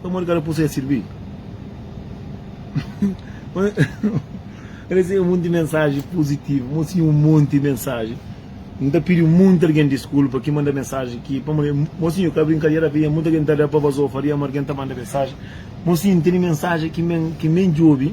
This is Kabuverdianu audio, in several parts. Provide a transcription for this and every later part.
Pamodi ka ta pô-s a sirbi? N resebe un monti mensaji puzitivu, N mostra-i un monti mensaji. N ta pidi un monti algen diskulpa ki manda mensaji ki, pamodi N mostra-i ka brinkadera, avia monti algen ki ta da pa vazor, faria ma algen ta manda mensaji. N mostra-i N tene mensaji ki N ben djobe.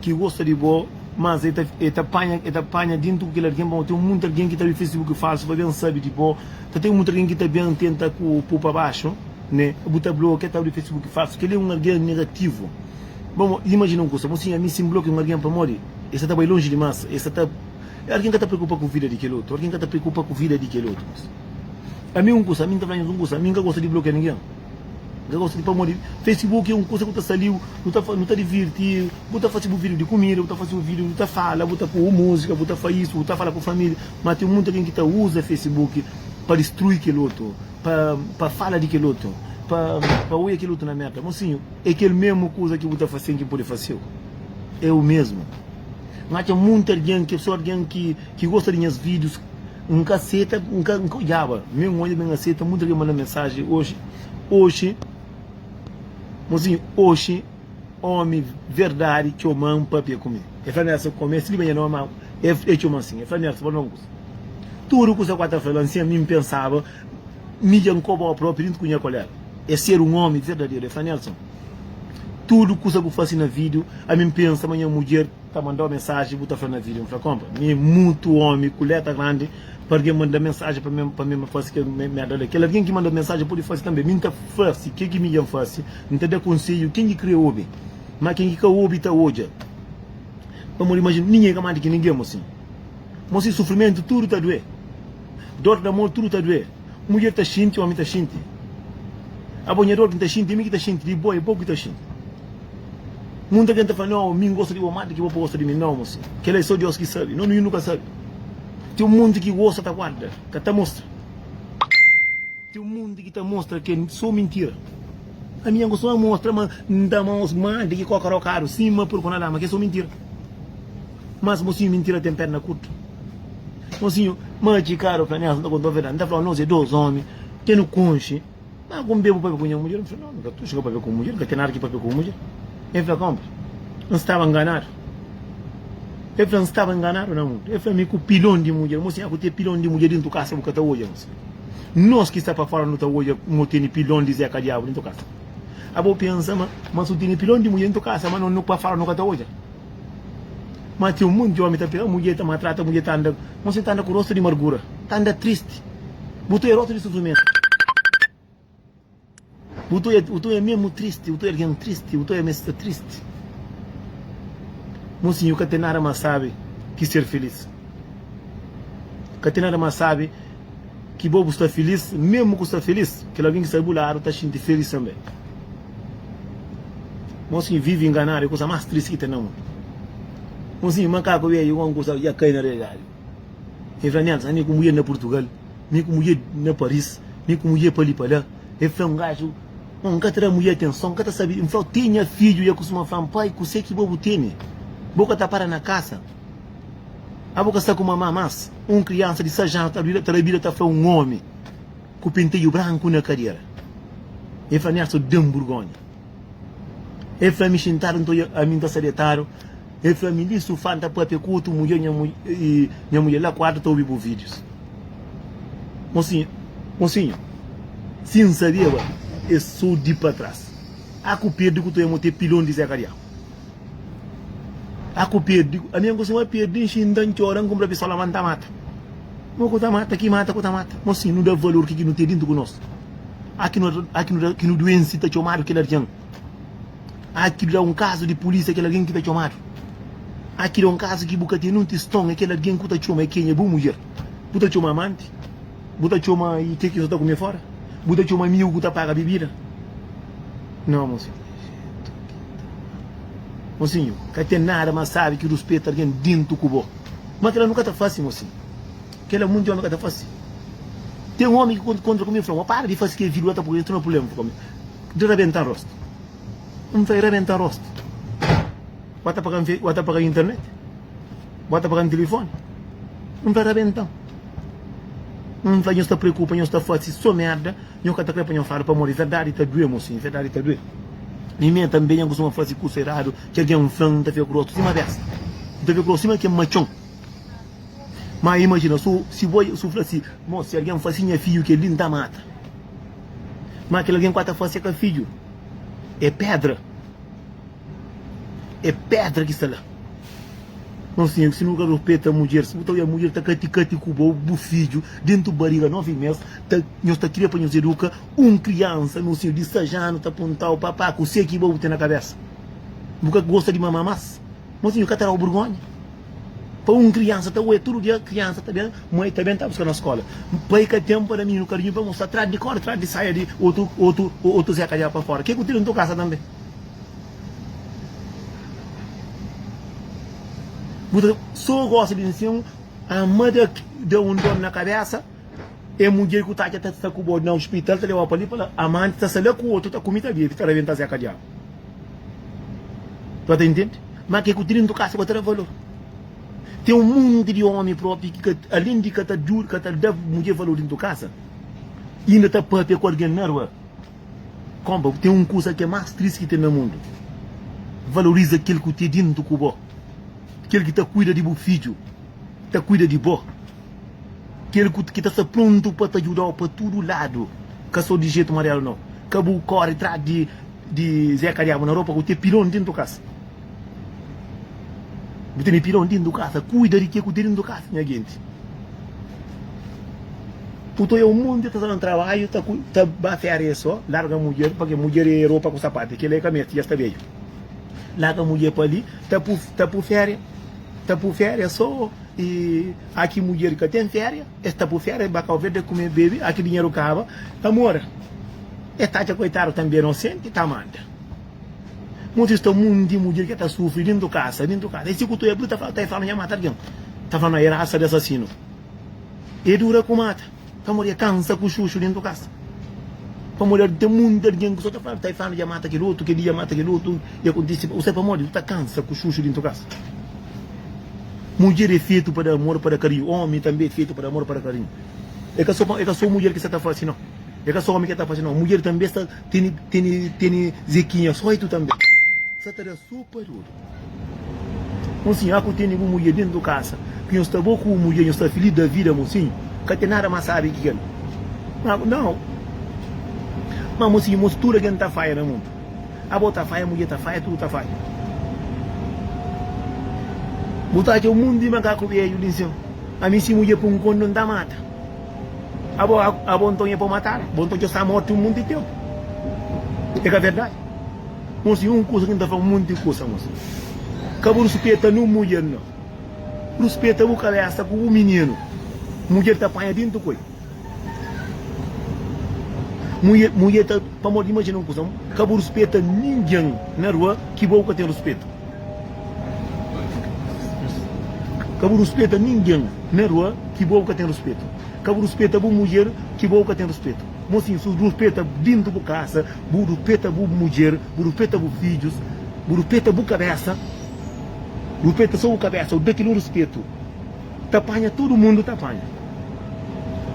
Ki gosta di bo mas e ta e ta panha e ta panha dintu ku kel algen bom ten mutu algen ki ta abi facebook falsu pa ben sabi di bo ta ten mutu algen ki ta ben tenta ku po pa baxu ne bu ta blokia ta abri facebook falsu kel li é un algen negativu bom bo imajina un kusa bom si ami si n blokia un algen pamodi e sa ta bai lonji dimas e sa ta algen ka ta preokupa ku vida di kel otu algen ka ta preokupa ku vida di kel otu ami un kusa ami n ta fla nhos un kusa ami n ka gosta di blokia ningen. Ka gosta di pamodi facebook é un kusa ku ta sta li bu ta bu ta divirti bu ta fasi bu video di kumida bu ta fasi bu video bu ta fala bu ta pô musika bu ta fai isu bu ta fala ku familia ma ten monti algen ki ta uza facebook pa distrui kel otu pa pa fala di kel otu pa pa oja kel otu na merda mosinhu é kel memu kuza ki bu ta fasi algen pode fasiu é u mesmu n'atxa monti algen ki so algen ki. ki gosta di nhas videos N ka seta N ka odjaba me N odja me N aseta muita ki manda mensaji oxi oxi mozinho oxi omi verdadi txoma N papia ku mi e fla mi asa ku mi skriba nha nomi ma e txoma asin e fla mi asa pa nunkus tudu kusa ku ata fla nsin ami N pensaba mi dja N koba o propi dintu ku nha kolega e ser un omi verdaderu e fla Nelson tudu kusa ku fasi na video ami N pensa ma nha mudjer ta mandau mensaji bu ta fla na video mi fla konpa mi mutu omi ku leta grandi pa algin manda mensaji pa mi pa mi ma fasi kel merda la kel algin ki manda mensaji pudi fasi tanbe mi nta fasi ke ki mi djan fasi nta da konseju kin ki kria obi ma kin ki ka obi ta odja pamodi imajina ningin ka mandi ki ningin mosi mosi sufrimentu tudu ta due dor damor tudu ta due. Mudjer ta xinti, omi ta xinti, abo nha dor ki N ta xinti, mi ki ta xinti di bo, e bo ki ta xinti. Munta ken ta fla, Nau, mi N gosta di bo más di ki bo pa gosta di mi. Nau, mo sin. Kel-la é sô Deus ki sabe. No mininu ka sabe. Ten un monti ki gosta ta guarda, ka ta mostra. Ten un monti ki ta mostra ki é sô mintira. Ami nha gosta má mostra ma N ta ama-s más di ki kóka rokadu. Sin, ma pur ku N alama ki é sô mintira. Mas mosinhu mintira ten perna kurtu mosinhu ma ki kara fla nias nta kontau verdadi nta flau nos é dos omi ke nu konxe ma ku nbebu pabia ku nha mudjer nfla no nka tuxu ka pabia ku mudjer nka ten nada ki pabia ku mudjer e fla konpra nstaba nganadu e fla nstaba nganadu na mundu e fla mi ku pilon di mudjer mosi nha ku te pilon di mudjer dintu kasa bu ka ta odja nos nos ki sta pa fora nu ta odja mo tene pilon di zeka diabu dintu kasa abo pensa ma ma su tene pilon di mudjer dintu kasa ma no nu pa fora nu ka ta odja Má ten un monti di ómi ta fla, Mudjer ta maltrata, mudjer ta anda. Má se ta anda ku róstu di margura, ta anda tristi. Bu ta oja róstu di sufrimentu. Bu ta oja, bu ta oja mésmu tristi, bu ta oja algen tristi, bu ta oja ma es sta tristi. Mosinhu, ka ten nada más sábi ki ser filís. Ka ten nada más sábi ki bo bu sta filís, mésmu ku sta filís, kel algen ki sta di bu ladu ta xinti filís tanbê. Nos ki vivi inganadu é kusa más tristi ki ten na mundu. Un sinplis makaku bedju ku un kusa dja kai na realidadi. El fla, Nel, ami ku mudjer na Purtugal, mi ku mudjer na Paris, mi ku mudjer pa li pa la. El fla, Un gadju, N ka ta da mudjer atenson, N ka ta sabe di. N fla-u, Te nha fidju dja kustuma fla-m, Pai, kuse ki bo bu tene? Bo ka ta para na kasa? Abo ka sta ku mama más? Un kriansa di sais anu ta da bida ta fla un omi. Ku penteju branku na kadera E fla-mi Arthur da-m burgonha E fla-mi xintadu nton e ami N ta sta detadu E fla-mi li sufá N ta pâpia ku otu mudjer Nha nha mudjer la kuartu ta obi bu vídius Mosinhu, mosinhu Si N sabiaba es sou di pa tras Aku perde ku to e mô te pilon di Zé Kariau Tá ku perde, ami angu suma perde nxi N ta ntxora, N kunpra pistola ma N ta mata Mo ku ta mata, ki mata ku ta mata Mo si nu da valor ki ki nu ten dintu ku nos A ki nu ta, a ki nu ta, ki nu duense ta txomadu kel algen A ki da un kazu di pulísia kel algen ki ta txomadu A ki da un kazu ki bu ka ten nun tiston é kel algen ku ta txoma é kenha bu mudjer Bu ta txoma amanti Bu ta txoma i ke ki nu ta kume fora Bu ta txoma amigu ku ta paga bibida No, mo si. Mosinhu, ka ten nada más sábi ki ruspeta algen déntu ku bo. Má kel-la nu ka ta fase, mosinhu. Kel-la monti ómi ka ta fase. Ten ómi ki konta kóntra ku mi, el fla-m, Ó, para di fase kel vídiu la, ta poi entru na prubléma pa mi. Di rabenta-m róstu. N fla el, Rabenta-m róstu? Bu ta paga-m fe, bu ta paga-m internet? Bu ta paga-m tilifóni? N fla, Rabenta-m. N fla, Nhos ta preokupa, nhos ta fase sô merda. Nho ka ta kre pa nho fadu pamodi verdadi ta due mo sim verdadi ta due mi me tambe nha kustuma fasi kusa eradu ki algen flan nta fia ku rostu sima bes nta fia ku rostu sima kem matxon ma imajina su si bo su fla si mo si algen fasi nha fidju kel li nta mata ma kel algen ku a ta fasi ka fidju e pedra e pedra ki sta la no sinho ku si nu ka rupeta mudjer si bu ta oja mudjer ta kati kati ku bo bu fidju dentu bariga novi mes Ta nhos ta kria pa nhos eduka un kriansa no siñu di sais anu ta puntau papá kusé ki bo bu ten na kabésa bu ka gosta di mama mas mo siñu ka ta dau burgonha pa un kriansa ta oia tudu dia kriansa ta ben ma e ta ben ta buska na skola pa e ka ten pa da mininu karinhu pa mostra tras di korda tras di saia di otu otu otu zeka dja pa fora ke ku ten na to kasa tanbe bu ta so gosta di nsin ama da da un don na kabésa. E mudjer ku ta atxa ta sta ku bo na ospital ta leba pa li fala amanti ta sta la ku otu ta kumi ta bebi ta rabenta zeka diabu pa ta intendi ma ke ku trintu kasi ba ta da valor ten un monti di omi propi ki ka alin di ka ta djuda ka ta da mudjer valor dintru kasa inda ta papia ku algen na rua konpa ten un kusa ke mas tristi ki ten na mundu valoriza kel ku ten dintru ku bo kel ki ta kuida di bu fidju ta kuida di bo Kel ki ta sta prontu pa ta djuda-u pa tudu ladu, ka so di jetu mariadu nau. Ka bu kori tras di Zeka Diabu na ropa ku ten pilon dintu di kasa. Bu tene pilon dintu di kasa, kuida di ke ku ten dintu di kasa, nha genti. Uto e un monti ta sta na trabadju, ta ba férias so. Larga mudjer, pake mudjer e ropa ku sapatu, kila e ka mesti, ja sta bedju. Larga mudjer pa li, ta pui férias, ta pui férias so. E aki mudjer ka ten feria es ta pu feria ba cabo verde kume bebe aki dinheru kaba amor es ta atxa koitadu tambe inosente ta manda mutu es ta mundi mudjer ke ta sufri dintu kasa dintu kasa e si ku tu ebriu ta fla ta fla nha mata algen ta fla na e rasa de asasinu e dura ku mata. Pamodi e kansa ku xuxu dentu kasa. Pamodi el ten monti algen ki so ta fla-l, ta e fla-nu dja mata kel otu, kel li dja mata kel otu, i akontisi. Bu sabe pamodi? Bu ta kansa ku xuxu dentu kasa. Mudjer e fetu pa da amor, pa da karinhu. Omi tanbe e fetu pa da amor, pa da karinhu. E ka so, e ka so mudjer ki sa ta fasi no. E ka so omi ke ta fasi no. Mudjer tanbe sa tene, tene, tene zekinha sóitu tanbe. Sa ta da sopa. Mosinhu, aku tene bu mudjer dentu du kasa, ki nhos sta bo ku bu mudjer, nhos sta filís da vida, mosinhu, ka ten nada más sábi ki kel. Ma, nau. Ma, mosinhu, mos tudu algen ta faia na mundu. Abo ta faia, mudjer ta faia, tudu ta faia. Bu ta atxa un monti di makaku bedju li n'séu. Ami, si mudjer pô-m konda, N ta mata. Abo, abo nton é pa bu mata-l? Abo nton dja sta mortu un monti di ténpu. É ka verdadi? Nho si un kusa ki nta fla monti di kusa nho si ka bu ruspeta nu mudjer nho ruspeta bu kabesa ku bu mininu mudjer ta panha dintu koi mudjer ta pamodi imajina un kusa ka bu ruspeta ningen na rua ki bo bu ka ten ruspetu ka bu ruspeta ningen na rua ki bo bu ka ten ruspetu ka bu ruspeta bu mudjer ki bo bu ka ten ruspetu. Mosin, sus bu peta dintu bu kasa, bu du peta bu mudjer, bu du peta bu fidjus, bu du peta bu kabesa, bu peta so bu kabesa, bu da kel un rispetu, ta panha tudu mundu ta panha,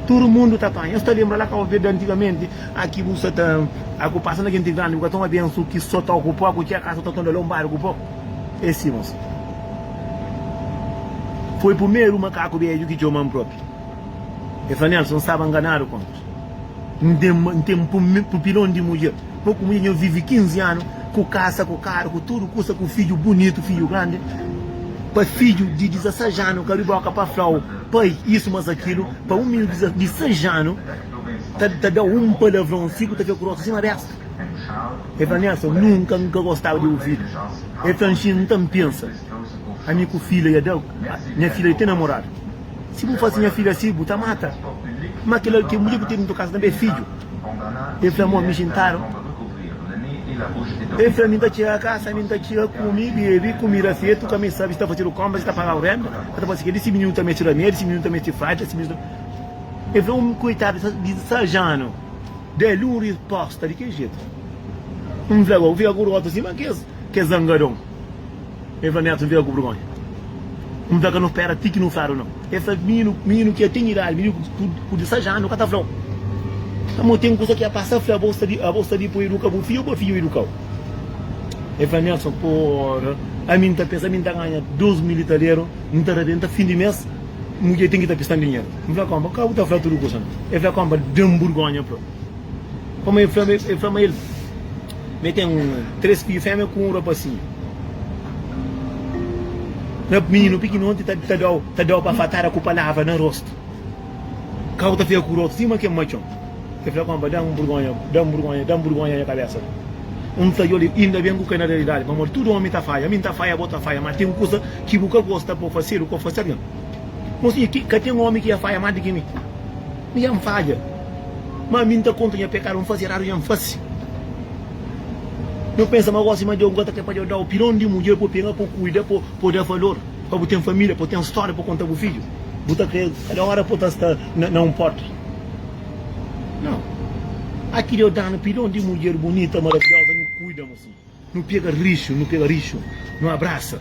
tudu mundu ta panha. Nhos ta lenbra la Kabo Verde antigamenti aki bu sa ta aku pasa na genti grandi bu ka ta un abensu ki so ta okupa ku txeka so ta tonda la un bari ku po e si mosi. Foi pumeru makaku bedju ki txoma-m propi. E fla, Nelson, N staba nganadu kantu N ten un pupilon di mudjer. Bo ku mudjer nha vive 15 anu ku kasa, ku karu, ku tudu kusa, ku fidju bunitu, fidju grandi. Pa fidju di 16 anu ka riboka pa fla-u pai isu mas akilu, pa un minu di 6 anu ta da-u un palavron siku ta fia ku rostu sima besta. E fla, Nelson, nunka N ka gostaba di ovidu. E fla, Nxi, N ta N pensa ami ku fila ya da nha fila di ten namoradu. Si bu fase nha fidju asi, bu ta mata. Má kel algen, mudjer ku tene tokadu, tanbê é fidju. El fla, Mon, mi jintadu. El fla, Mi N ta txiga kasa, mi N ta txiga kume, bebe, kumida fetu, ka mi sabe si ta fasedu konpra, si ta pagadu rénta, ka ta fase kel-li. Si mininu ta meste ramédi, si mininu ta meste fradja, si mininu ta. El fla, Un koitadu di disezas anu. Da-l un respósta di kel jetu. N fla, Bo, bu fika ku rota sima kes zangadon. Eva Neto nfia ku burgonha N fla ka nu spera ti ki nu fladu nau E fla mininu, mininu ki dja ten idadi Mininu ku 16 anu ka ta flau Amor ten kusa ki a pasa fla bo sta di Abo sta di pa iduka bu fidju o bu fidju idukau E fla Nelson pora Ami N ta pensa ami N ta ganha 2 mil italiero N ta rabenta fin di mes Mudjer ten ki ta pistan dinheru N fla konpa ka bu ta fla tudu kusa na E fla konpa da-m burgonha pa Pamodi e fla ma el. Mi ten tres fidju fémia ku un rapasinhu. Rap mininu pikinoti ta ta dau ta dau bafatada ku palavra na rostu. Kau ta fika ku rotu sima ken matxon. El fla, Konpa, da-m burgonha, da-m burgonha, da-m burgonha nha kabésa. N fla, Djoli, inda ben ku ka é na realidadi, pamodi tudu ómi ta faia. Mi N ta faia, bo ta faia, má ten kuza ki bu ka gosta pa bu fasedu, kau fasedu nha. Mosinha, ki ka ten ómi ki dja faia más di ki mi. Mi dja N fadja. Ma mi n'ta konta nha pekadu N'fasi eradu nha n'fasi N'o pensa ma gosi ma Deus n'ka ta ke pa Deus dau Piron di mudjer p'o pega p'o kuida p'o p'o da valor Pa bu ten familia p'o ten storia p'o konta bu fidju Bu ta kre kada ora p'o ta sta na na un porta Nau Aki Deus danu piron di mudjer bunita maravioza nu kuida-m si. Nu pega rixu, nu pega rixu, nu abrasa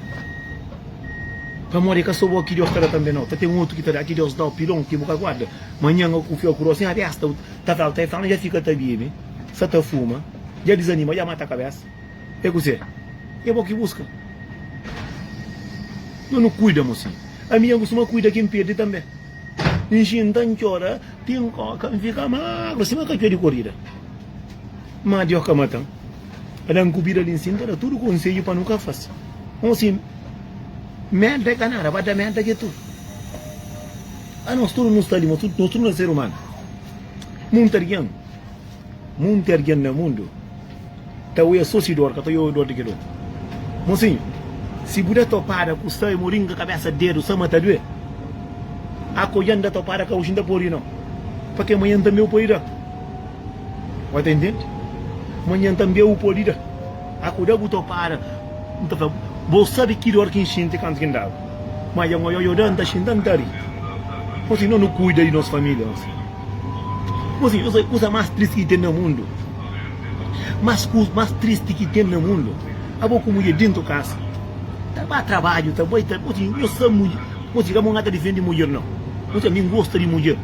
Pamodi é ka so bo ki Deus ta da tanbe nau, ta ten otu ki ta da Ki Deus dau pilon ki bu ka guarda Manhan au ku fia ku rosin abesta Ta fla-u ta infla-u, dja fika ta bibi Sa ta fuma, dja dizanima, dja mata kabesa É kuzê? É bo ki buska Ma nu kuida mo si Ami dja N kustuma kuida ki N pirdi tanbe N xinta, N txora, ti N koka, N fika magru sima katxua di korida Ma Deus ka mata-m Pa da-m ku bida li nsin ta da tudu konsedju pa nu ka fase un si mel ta ka nada ba ta mel ta ke tudu a nos tudu nu sta li nos tudu na ser umanu munti argen munti argen na mundu ta oia so si dor ka ta oia dor di ke dor mosinhu si bu da topada ku sai mo ringa kabesa dedu sa ma ta due a ko ja nda topada ka oji nda podi no pa ke manha nta meu poi da. Oi ta intende? Manhan tanbê u pode da. Akuda bu ta para, N ta fla bo sabe ki dor ki N xinti kantu ki N daba. Má dja N ioiô da, N ta xinta, N ta ri. Bo sibi, no nu kuida di nos família gosi. Bo sibi, nu sabe kusa más tristi ki ten na mundu? Más kusa más tristi ki ten na mundu? Abo ku mudjer déntu kasa ta ba trabadju, ta bai ta. Bo sibi, nho sabe mudjer. Bo sibi, ka bo ka ta difende mudjer nau. Bo sibi, ami N gosta di mudjer.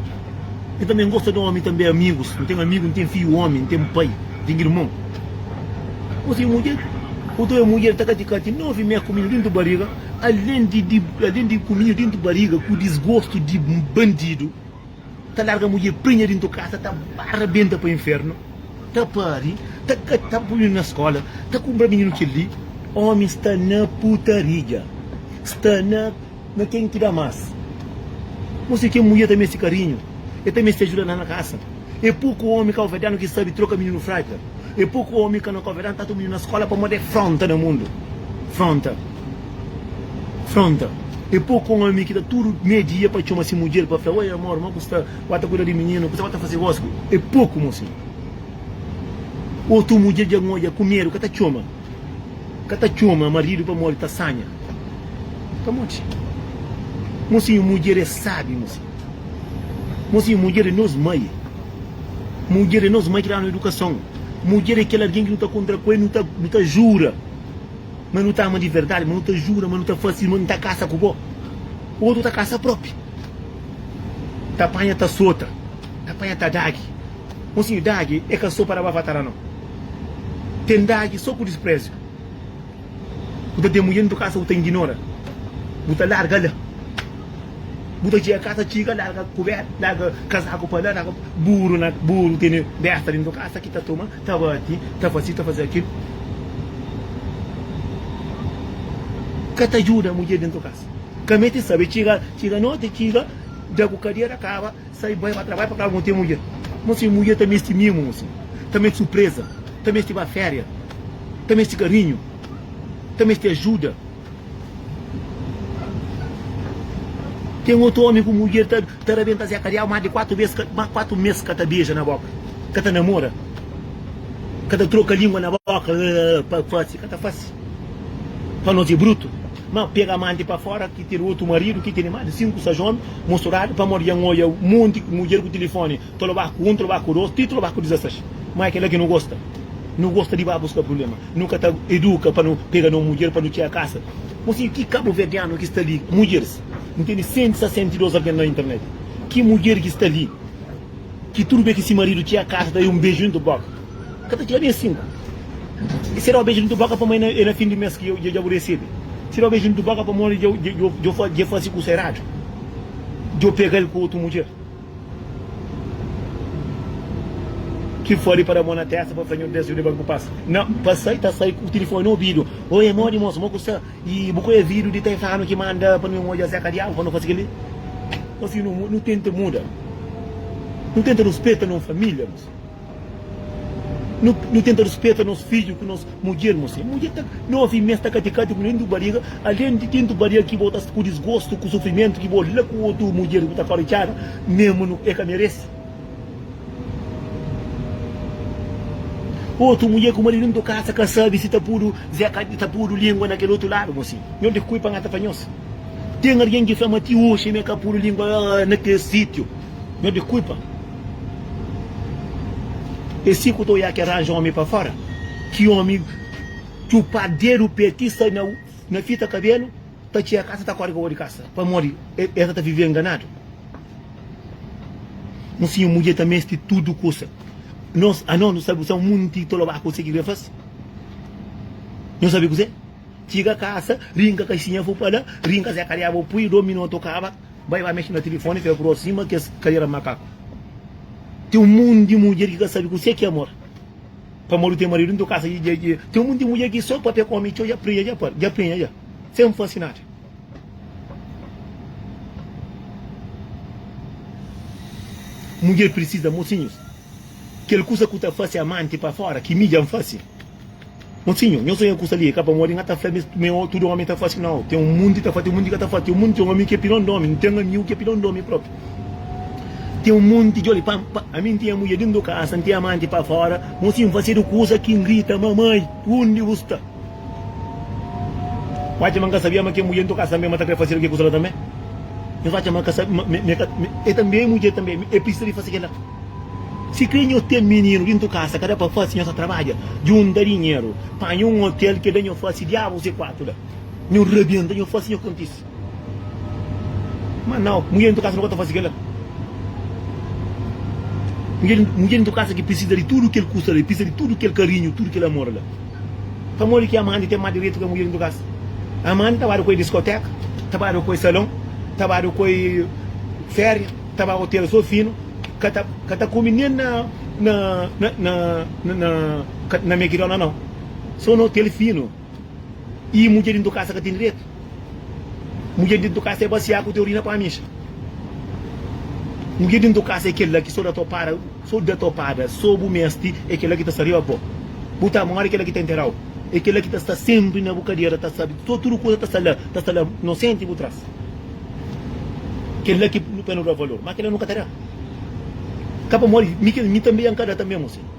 N tanbê N gosta di omi tanbê amigus N ten amigu N ten fiju omi N ten pai N ten irmon Bo ten mudjer Bo ta oja mudjer ta kati kati novi mé ku minhu dintu bariga Alen di di alen di ku minhu dintu bariga ku disgostu di bandidu Ta larga mudjer prinha dintu kasa ta ba rabenta pa infernu Ta pari ta ka ta pui minhu na skola ta kunbra minhu kel li Omi sta na putaria sta na. Na ten ki da mas. Mostra ken mudjer ta meste karinhu. E ta meste ajuda na na kasa. E poku omi kauvérdianu ki sabi troka mininu frájil. E poku omi ka na kauvérdianu ta ata un mininu na skola pamodi e fronta na mundu. Fronta. Fronta. E poku omi ki ta tudu mei dia pa txoma si mudjer pa fla, Oi amor, ma ku sta? Wá ta kuida di mininu? Kuzé wá ta fase gósi? E poku, mosi. Otu mudjer dja ngodja ku medu ka ta txoma. Ka ta txoma maridu pamodi ta sanha. Ka modi. Mosinhu, mudjer é sábi, mosinhu. Mosinhu, mudjer é nos mai. Mudjer é nos mai ki da-nu idukason. Mudjer é kel algen ki nu ta kontra ku el, nu ta, nu ta jura ma nu ta ama di verdadi, ma nu ta jura ma nu ta fase, ma nu ta kasa ku bo. Otu ta kasa própi. Ta panha, ta sota. Ta panha, ta dagi. Mosinhu, dagi é ka so pa da ba fatada, nau. Ten dagi so ku disprezi Bu ta demudja dentu kasa bu ta inginora Bu ta larga la Bu ta txega kasa txiga larga kuberta larga kazaku pa la larga buru na buru tene besta dentu kasa ki ta toma ta bati ta fasi ta fasi kil ka ta djuda mudjer dentu kasa ka mete sabe txiga txiga noti txiga da ku kadera kaba. Sai bai pa trabadja pa kla mon ten mudjer mon sin mudjer ta mesti mimu mon sin ta mesti supreza ta mesti ba feria ta mesti karinhu ta mesti ajuda ten otu omi ku mudjer ta ta rabenta zeka rial ma di kuatu bes ma kuatu mes ka ta beja na boka ka ta namora ka ta troka lingua na boka pa fasi ka ta fasi pa nos e brutu. Ma pega amanti pa fora ki tene otu maridu ki tene mas di sinku sa jomi musturadu pamodi ya n'oja monti mudjer ku tilifoni ta loba ku un ta loba ku dos ti ta loba ku dizasas ma é kela ki nu gosta nu gosta di ba buska prubléma nu ka ta eduka pa nu pega no mudjer pa nu txia kasa bo sibi ki kabuverdianu ki sta li mudjeris n'tene senti sa senti dos algen na internet ki mudjer ki sta li. Ki tudu be ki si maridu txia kasa da e un beju dintu boka ka ta txia bes sinku e si da o beju dintu boka pamo e na fin di mes ki dja bu resebe si da o beju dintu boka pamo dja fasi kusa eradu djo pegal ku otu mudjer ki fodi pa da mo na testa pa fla nho bes djuda ban ku pasa na pa sai ta sai ku tilifoni na obidu oe modi mosu mo ku sta. Y bu konhe vidu di Taifano ki manda pa nu odja Zeka Diabu pa nu fase keli? Nós si nu nu tenta muda, nu tenta ruspeta nos família mos, nu nu tenta ruspeta nos fidju ku nos mudjer mos. E mudjer ta na ovi mes ta katikati ku dentu bariga, além di dentu bariga ki bo ta ku disgostu ku sufrimentu ki bo la ku otu mudjer ku ta fora di casa, mesmu nu e ka meresi. Otu mulher ku maridu nto kasa ka sabi si ta pudu ze ka ta pudu lingua na kel otu ladu bo si nho di kui pa ngata pa nhos ten argen ki fla ma ti oxi me ka pudu lingua na kel sitiu nho di kui pa e si ku ta oiá ke ranja omi pa fora ki omi txupá dedu pe ti sai na fita kabelu ta txia kasa ta kori ka bo di kasa pamodi e sa ta vive enganadu. No fim, mudjer ta meste tudu kusa. Nos, a nos, nu sabe kuzê? Un munti ta lobá kuzê ki krê fase. Nhos sabe kuzê? Txiga kasa, rinka kaxinha fu pa la, rinka Zé Kariá bo pui, do minotu kaba, bai ba mexe na tilifoni, fia kru sima kes kadera makaku. Ten un monti di mudjer ki ka sabe kuzê ki é amor. Pamodi ten maridu nton kasa dja dja. Ten un monti di mudjer ki sô papia ku omi txeu dja prenha dja, pari, dja prenha dja, sen fase nada. Mudjer precisa mocinhos kel kusa ku ta fase amanti pa fora ki midja an fase mocinho nho sonha kusa li e ka pamodi nha ta fla mes me o tudo omi ta fase nao ten un munti ta fase ten un munti ka ta fase ten un munti ten omi ki opinion di omi nten amiu ki opinion di omi propi ten un munti djoli pa pa ami nten mudjer den do kasa nten amanti pa fora mocinho nfasedu kusa ki ngrita mamai undi bu sta. N atxa ma N ka sabia ma ki é mudjer, nton ka sanbe ma ta krê faze algen kuza la tanbe? Nhos atxa ma é tanbe é mudjer tanbe, é pirsisa di fase kel-la? Si krê nhos ten mininu dintu kasa, ka da pa fase, nhos ta trabadja, djunta dinheru, panha un otel ki da nhos fase diabus e kuatu la, nhos rabienta, nhos fase, nhos kontise. Má nau, mudjer dentro di kasa nu ka ta fase kel-la. Mudjer, mudjer dentro di kasa ki pirsisa di tudu kel kusa la, e pirsisa di tudu kel karinhu, tudu kel amor la. Pamodi ki Amanda ten más direitu ka mudjer dentro di kasa? Amanda ta bada ku el diskotéka, ta bada ku el salon, ta bada ku el féria, ta ba otel sô finu, ka ta, ka ta kume nen na, na, na, na, na, na McDonald's nau. Sô na otel finu. i mudjer dintu kasa ka ten direitu mudjer dintu kasa é basiá ku teu urina pa mixa mudjer dintu kasa é kela ki so da topada so da topada so bu mesti é kela ki ta sta riba di bo bu ta mori é kela ki ta nterau é kela ki ta sta senpri na bu kadera ta sta so tudu kuza ta sta la ta sta la nosenti bu tras kela ki pa nu da valor ma kela nu ka ta da ka pa modi mi tanbe ya nka da tanbe muse.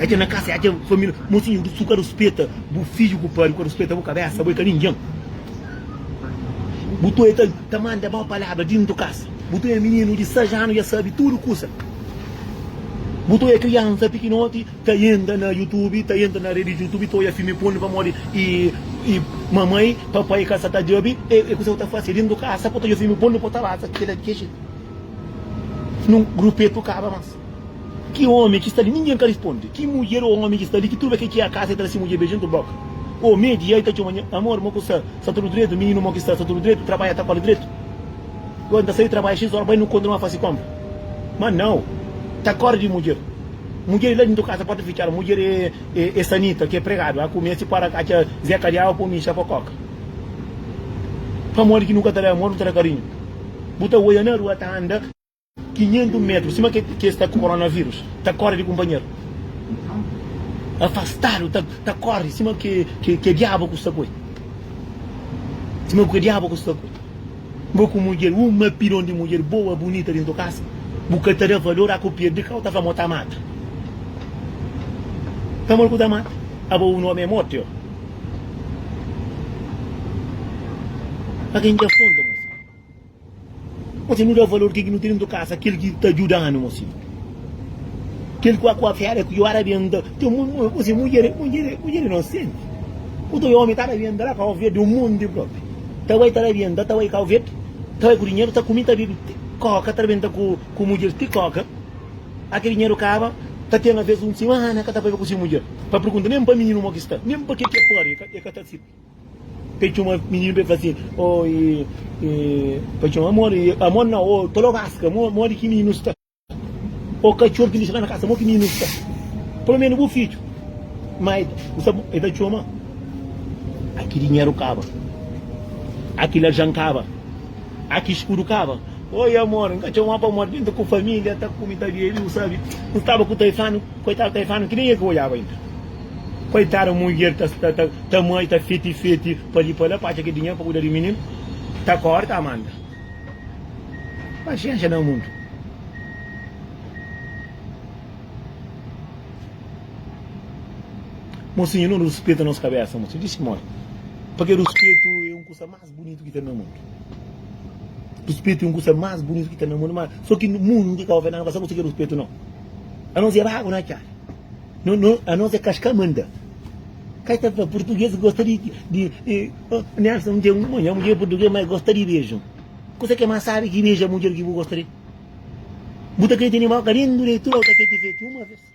Adja na kasa, adja família. Mocinho do sul ka ruspeta bu fidju ku pari, ka ruspeta bu kabesa, bo e ka ninguem. Bu toi ta ta manda mau palabra dintu kasa. Bu toi e mininu di sais anu ja sabi tudu kusa. Bu toi e kriansa pikinoti ta entra na youtube, ta entra na redi youtube ta oia filmi pornu pamodi e e mamai, papai ka sa ta djabi e e kusa bo ta fasi dintu kasa, bo ta oja filmi pornu bo ta basa kila kexi. Nun rupetu kaba mas. Ki omi ki sta li? Ningen ka risponde. Ki mudjer ô omi ki sta li ki turba ke ki a kasa? El ta da si mudjer beju entru boka. Ô, Medi, ia i ta txoma nha. Amor, mo ku sta? Sta tudu dretu, mininu? Mo ki sta? Sta tudu dretu? Trabadja ta kole dretu? Gori nta sai trabadja xis ora, bai nu kontinua fasi konpra. Ma nau! Ta kore di mudjer. Mudjer i la dintru kasa, porta fitxada. Mudjer e, e, e Sanita, ke pregadu. A kume, si para katxa Zeka di awa po mi inxa po koka. Pamodi ki nu ka ta da amor, nu ta da kariñu. Bu ta oia na rua, ta anda. 500 metru sima kes ta ku coronavírus ta kore di kunpanheru afastadu ta kore sima ke diabu ku sta ku el sima ke diabu ku sta ku el bo ku mudjer un mapidon di mudjer boa bunita dentru kasa bu ka ta da valor a ku pirdi kau ta fla mo ta mata pamodi ku ta mata aba un omi e mortu yo a ken ki afronta. Gosi nu da valor kel ki nu ten dentu kasa, kel ki ta djuda-nu gosi. Kel ku aku afiadu é ku ora ben nda. Gosi mudjer é inosenti. Otu bai omi ta da ben nda la kau verdi un monti propi. Ta bai ta da ben nda, ta bai kau verdi, ta bai ku dinheru, ta kumi, ta bibi ti koka, ta rebenta ku mudjer ti koka. A kel dinheru kaba, ta ten alvês un simana ka ta bai ku si mudjer pa pergunta, nen pa mininu mo ki sta, nen pa ke ki é pâria, e ka ta sirbi. Pe txoma mininu pe fla si oh e e pa txoma amor e amor nau oh ta loga aska mo modi ki mininu sta oh katxor ki lixada na kasa mo ki mininu sta pelo menu bu fidju maida bu sa e ta txoma aki dinheru kaba aki larjan kaba aki skudu kaba oi amor nka txoma pa modi nta ku familia ta kume ta bebe bu sabe nstaba ku taifano koitadu taifano ki nen e ka odjaba inda. Koitadu mudjer ta sta ta ta mai ta fiti fiti pa li pa la pa atxa ki dinheru pa kuda di mininu ta korta Amanda paxenxa na mundu. Mosinhu no ruspeta nos kabesa mosinhu dixi moi pa ke ruspetu e un kusa mas. más bunitu ki ten na mundu ruspetu é un kusa más bunitu ki ten na mundu má sô ki mundu nu ka ka obi nada nu ka sta konsigi ruspetu nau anons é bagu na atxadu no no anons é kas ka manda kai ta fla purtuges gosta di di nelson un dia un nha mudjer é purtuges má el gosta di beju kusa ki é más sábi ki beja mudjer ki bu gosta di-l bu ta krê tene mó karinhu di tudu otu afeti feti uma vez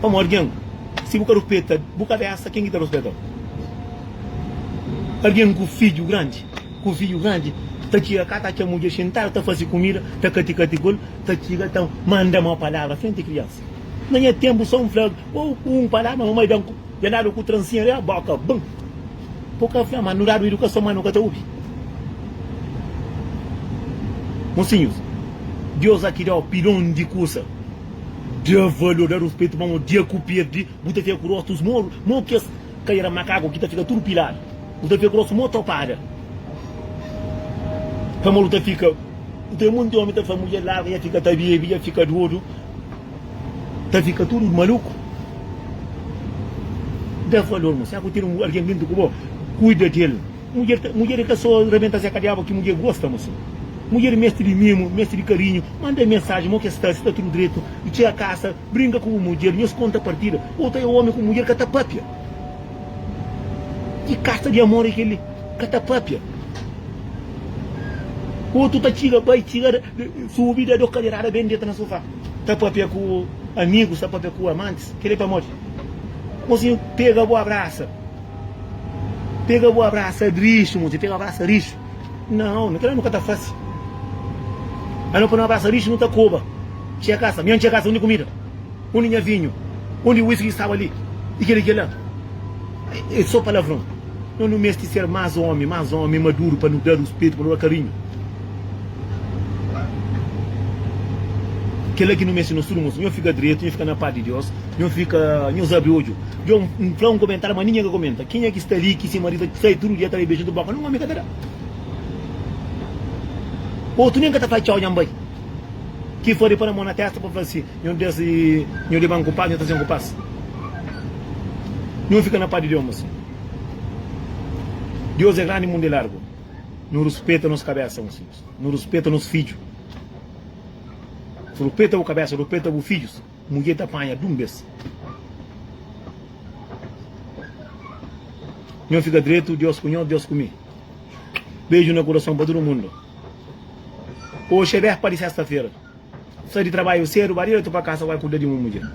Pamo argen si bu ka ruspeta bu kabesa ken ki ta ruspetau? Argen ku fidju grandi ku fidju grandi ta txiga ka ta atxa mudjer xintadu ta fasi kumida ta kati kati kul ta txiga ta manda mau palavra frenti kriansa na nha tenpu so un fla ou ku un palavra mamai dan ku dja dadu ku transinha riba boka bum bu ka fla ma nu dadu idukason ma nu ka ta obi mosinhus Dios a ki dau pilon di kusa. Da valor, da ruspetu pa mô, dia ku perdi, bu ta fika ku rostus moru, mô kes kadera makaku ki ta fika tudu piladu, bu ta fika ku rostu mô topada, pamodi bu ta fika, bu ta monti omi ta fla mudjer larga dja fika ta bebi, dja fika dodu, ta fika tudu maluku, da valor mô, será ku ten algen lindu ku bo, kuida del. Mudjer, mudjer e ka so rebenta zé kadiaba ki mudjer gosta mo sim mudjer mesti di mimu mesti di karinhu manda mensaji mo ke sta si ta tudu dretu i txia kasa brinka ku bu mudjer nhos konta partida ota e omi ku mudjer ka ta papia ki kasa di amor e keli ka ta papia otu ta txiga bai txiga subi da do kaderada ben deta na sofá ta papia ku amigus ta papia ku amantis keli pamodi mo sim pega bo abrasa. Pega bu abrasa drixu mon si pega abrasa rixu nau na kila nu ka ta fasi a no pa no abrasa rixu nu ta koba txia kasa nha txia kasa undi kumida undi nha vinhu undi whisky staba li i kila i kila e so palavron no nu mesti ser mas omi mas omi maduru pa nu da ruspetu pa nu da karinhu kila ki nu mesti nos tudu mon si nho fika dretu nho fika na pas di dios. Nhos fika nhos abri odju. Djo N fla un komentariu ma ninhen ka komenta. Kenha ki sta li ki se maridu ta sai tudu dia ta bai beja-l di boka nun omi ka ta da. Otu nen ka ta fla txau nha N bai. Ki fla di pa na mo na testa pa fla si nho des i nho di ban ku pas nho ta sen ku pas. Nho fika na pas di Djomas. Dios e grandi mundu e largu. Nu ruspeta nos kabesa un sinhus. Nu ruspeta nos fidju. Rupeta bu kabesa rupeta bu fidjus. Mudjer ta panha dum bes. Nho fika dretu Dios ku nho Dios ku mi Beju na kurason pa tudu mundu Oxi é bérpa di sesta fera Sai di trabaiu sedu ba diretu pa kasa Bai kuda di mu mudjer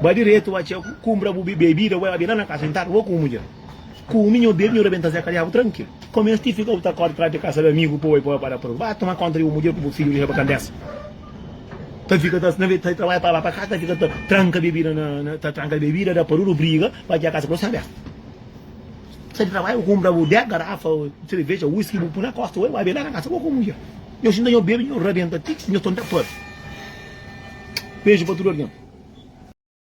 Ba diretu ba txeu kumbra bu bebida Bai ba bi la na kasa intadu bo ku mu mudjer Kumi nho bebi nho rebenta zeka diabu trankilu Komensti fika bu ta korda tras di kasa di amigu Poi poi ba da prova Ba tuma konta di bu mudjer ku bu fidju Dixa ba kandesa. ta fika ta na ta trabalha pa lá pa cá ta fika ta tranka bebida na na ta tranka bebida da pa tudo briga pa ki a casa ku sta abertu sai di trabalho bu kumpra bu 10 garafa cerveja whisky bu pui na kosta wei bai be la na kasa bo ku mudjer nho sinta nho bebe nho rabenta tix nho tonta pâ beju pa tudo algin.